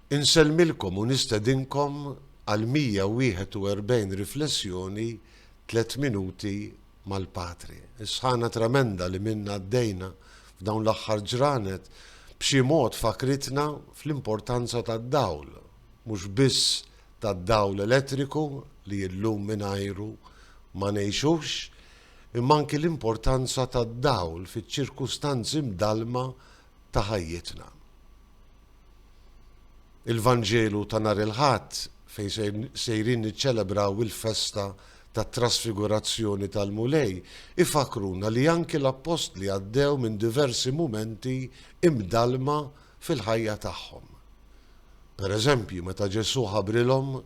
Insellmilkom u nistedinkom għal 141 riflessjoni Tliet Minuti mal-Patri. Is-sħana tremenda li minnha għaddejna f'dawn l-aħħar ġranet b'xi mod fakkritna fl-importanza tad-dawl, mhux biss tad-dawl elettriku li illum mingħajru ma ngħixux, imma anki l-importanza tad-dawl fiċ-ċirkustanzi mdallma ta' ħajjitna. Il-Vanġelu ta' nhar il-Ħadd fejn sejrin niċċelebraw il-festa tat-Trasfigurazzjoni tal-Mulej ifakkruna li anki l-Appostli għaddew minn diversi mumenti imdallma fil-ħajja tagħhom. Pereżempju, meta Ġesù ħabrilhom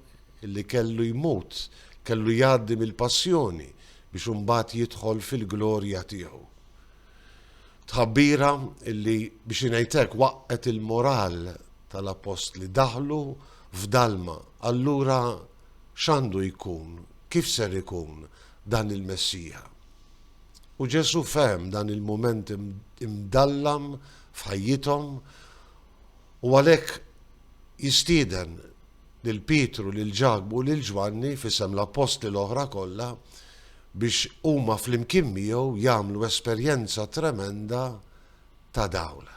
li kellu jmut, kellu jgħaddi mill-Passjoni biex imbagħad jidħol fil-glorja tiegħu. Tħabbira li biex ngħid hekk waqqgħet il-moral tal-Appostli daħlu f'dalma. Allura x'għandu jkun, kif ser ikun dan il-Messija? U Ġesù fehem dan il-mument imdallam f'ħajjithom u għalhekk jistieden lil Pietru, lil Ġakbu u lil Ġwanni f'isem l-appostli l-oħra kollha biex huma flimkien miegħu jagħmlu esperjenza tremenda ta' dawl.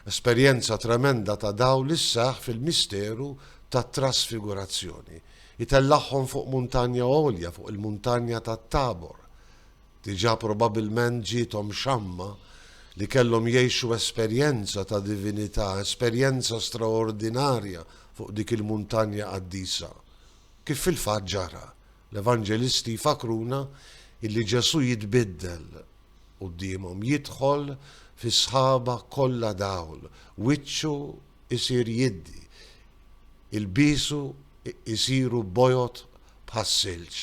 Esperjenza tremenda ta' dawl li sseħħ fil-misteru tat-trasfigurazzjoni. Itellagħhom fuq muntanja għolja, fuq il-muntanja tat-Tabor, Diġà probabbilment ġiethom xamma li kellhom jgħixu esperjenza ta' divinità, esperjenza straordinarja fuq dik il-muntanja qaddisa. Kif fil-fatt ġara, l-Evanġelisti jfakkruna illi Ġesù jitbiddel quddiemhom, jidħol fis-sħaba kollha dawl, wiċċu jsir jiddi, ilbiesu jsiru bojod bħas-silġ.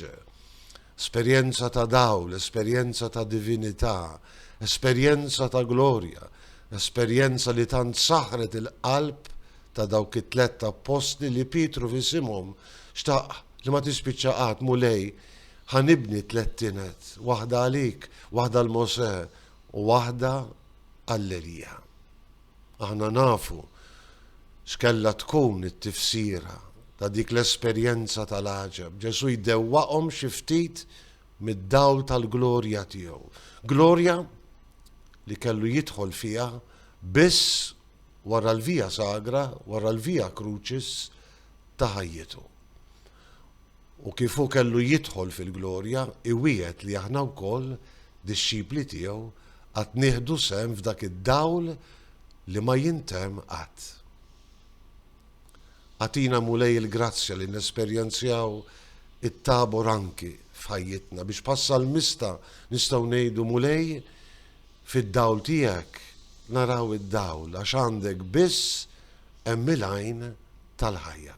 Esperjenza ta' dawl, esperjenza ta' divinità, esperjenza ta' glorja, esperjenza li tant saħħret il-qalb ta' dawk it-tlett appostli li Pietru f'isimhom xtaq li ma tispiċċa qatt, Mulej, ħa nibni tliet tined, waħda għalik, waħda għal Mosè u waħda għall-Elija. Aħna nafu x'kellha tkun it-tifsira ta' dik l-esperjenza tal-għaġeb. Ġesù jdewwaqhom xi ftit mid-dawl tal-glorja tiegħu. Glorja li kellu jidħol fiha biss wara l-via sagra, wara l-via crucis ta' ħajjitu. U kif hu kellu jidħol fil-glorja, iwiegħed li aħna wkoll, dixxipli tiegħu, għad nieħdu sehem f'dak id-dawl li ma jintemm qatt. Agħtina, Mulej, il-grazzja li nesperjenzjaw it-Tabor anki f'ħajjitna, biex bħas-salmista nistgħu ngħidu, Mulej, fid-dawl tiegħek naraw id-dawl, għax għandek biss hemm il-għajn tal-ħajja.